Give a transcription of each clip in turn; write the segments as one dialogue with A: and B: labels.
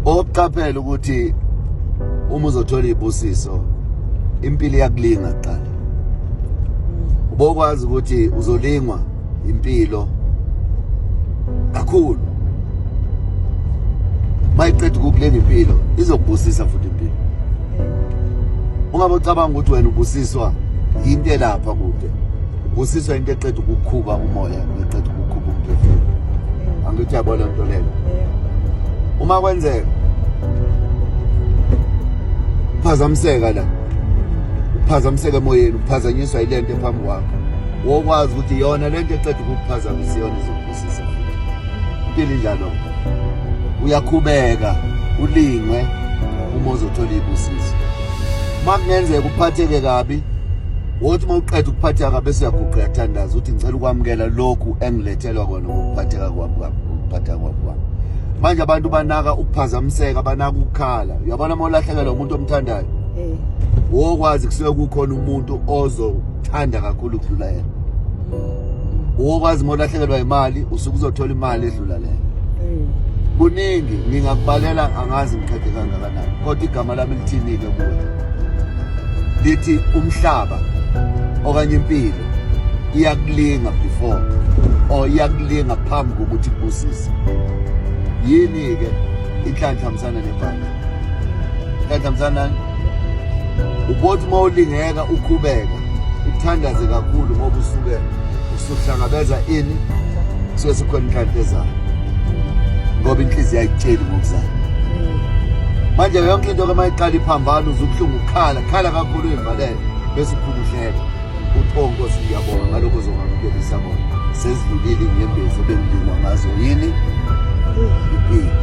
A: oqaphela ukuthi uma uzothola ibusiso impilo iyakulinga kuqala ubokwazi ukuthi uzolingwa impilo kakhulu mayiqeda ukukulinga impilo izokubusisa futhi impilo ungabe ucabanga ukuthi wena ubusiswa yinto elapha kude Busiswa into eqeda ukukhuba umoya eqeda ukukhuba umphefumulo. Angithi yabona into leyo. Uma kwenzeka uphazamiseka la uphazamiseka emoyeni uphazanyiswa ilento ephambi kwakho wokwazi ukuthi yona lento eqeda ukukuphazamisa yona izokubusisa impilo injalo uyakhubeka ulingwe uma uzothola ibusiso uma kungenzeka uphatheke kabi wothi uma uqeda ukuphatheka kabe siyaguqa yathandaza uthi ngicela ukwamukela lokhu engilethelwa kona ngokuphatheka kwami kwami ngokuphatheka kwami kwami manje abantu banaka ukuphazamiseka banaka ukukhala uyabona uma ulahlekelwa umuntu omthandayo Eh. wokwazi kusuke kukhona umuntu ozothanda kakhulu ukudlula yena wokwazi uma ulahlekelwa imali usuke uzothola imali edlula leyo Eh. kuningi ngingakubalela angazi ngiqede kangakanani kodwa igama lami lithini-ke kuwe lithi umhlaba okanye impilo iyakulinga before or iyakulinga phambi kokuthi kubusise yini ke inhlanhla msana nebhanda inhlanhla msana ubothi uma ulingeka ukhubeka uthandaze kakhulu ngoba usuke uhlangabeza ini suke sikhona inhlanhla ezayo ngoba inhliziyo ayitsheli ngokuzayo manje yonke into ke mayiqala iphambana uzubuhlungu ukukhala khala kakhulu uyivalele bese uphumuhlele uthi o nkosi ngiyabonga ngalokho ozongamkelisa kona sezidlulile inyembezi ebengidingwa ngazo yini impilo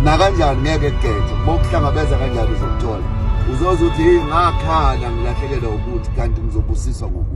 A: nakanjani ngeke kugejwe bokuhlangabeza kanjani uzokuthola uzoze uthi ngakhala ngilahlekelwa ukuthi kanti ngizobusiswa ngokuthi